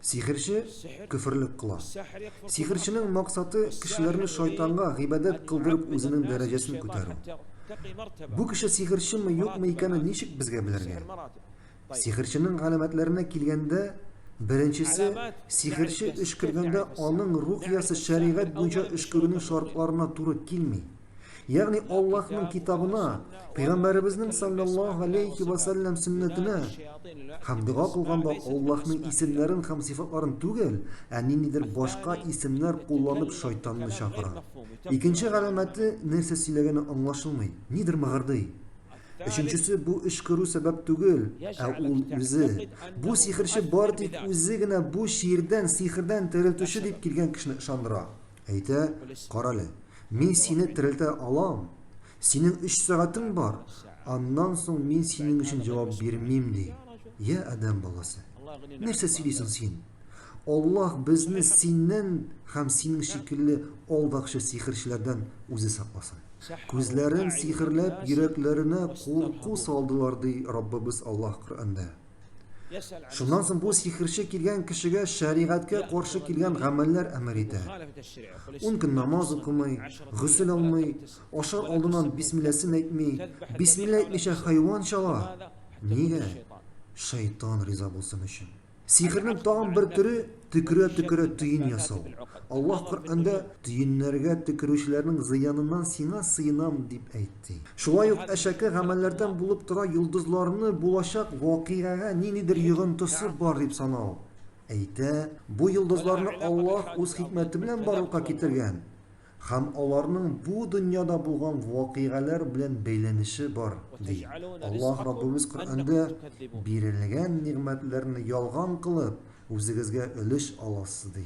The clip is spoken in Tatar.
Сихерче көферлек кыла. Сихерченең максаты кешеләрне шайтанга гыйбадәт кылдырып үзенең дәрәҗәсен күтәрү. Бу кеше сихерчеме юкмы икәнен ничек безгә белергә? Сихерченең галәмәтләренә килгәндә, беренчесе, сихерче өшкергәндә аның рукиясе шәригать буенча өшкерүнең шартларына туры килми. Ягъни Аллаһның китабына, Пәйгамбәребезнең саллаллаһу алейхи ва саллям сөннәтенә һәм дога кылганда Аллаһның исемнәрен һәм сыйфатларын түгел, ә ниндидер башка исемнәр кулланып шайтанны чакыра. Икенче галәмәте нәрсә сөйләгәне аңлашылмый, нидер мыгырдый. Өченчесе бу өшкерү сәбәп түгел, ә ул үзе. Бу сихерче бары тик үзе генә бу чирдән, сихердән терелтүче дип килгән кешене ышандыра. Әйтә, Карале, мин сине терелтә алам, синең өч сәгатең бар, аннан соң мин синең өчен җавап бирмим, ди. Йә, адәм баласы, нәрсә сөйлисең син? Аллаһ безне синнән һәм синең шикелле алдакчы сихерчеләрдән үзе сакласын. Күзләрен сихерләп, йөрәкләренә курку салдылар, ди Раббыбыз Аллаһ Коръәндә. Шуннан соң бу сихерче килгән кешегә шәригатькә каршы килгән гамәлләр әмер итә. Ун көн намаз укымый, гөсел алмый, ашар алдыннан бисмилләсен әйтми, бисмилла әйтмичә хайван чала. Нигә? Шайтан риза булсын өчен. Сихернең тагын бер төре төкерә-төкерә төен ясау. Аллаһ Коръәндә төеннәргә төкерүчеләрнең зыяныннан сиңа сыенам дип әйт. ди. Шулай ук әшәке гамәлләрдән булып тора йолдызларны булачак вакыйгага ниндидер йогынтысы бар дип санау. Әйтә, бу йолдызларны Аллаһ үз хикмәте белән барлыкка китергән һәм аларның бу дөньяда булган вакыйгаләр белән бәйләнеше бар, ди. Аллаһ Раббыбыз Коръәндә бирелгән нигъмәтләрне ялган кылып, үзегезгә өлеш аласыз, ди.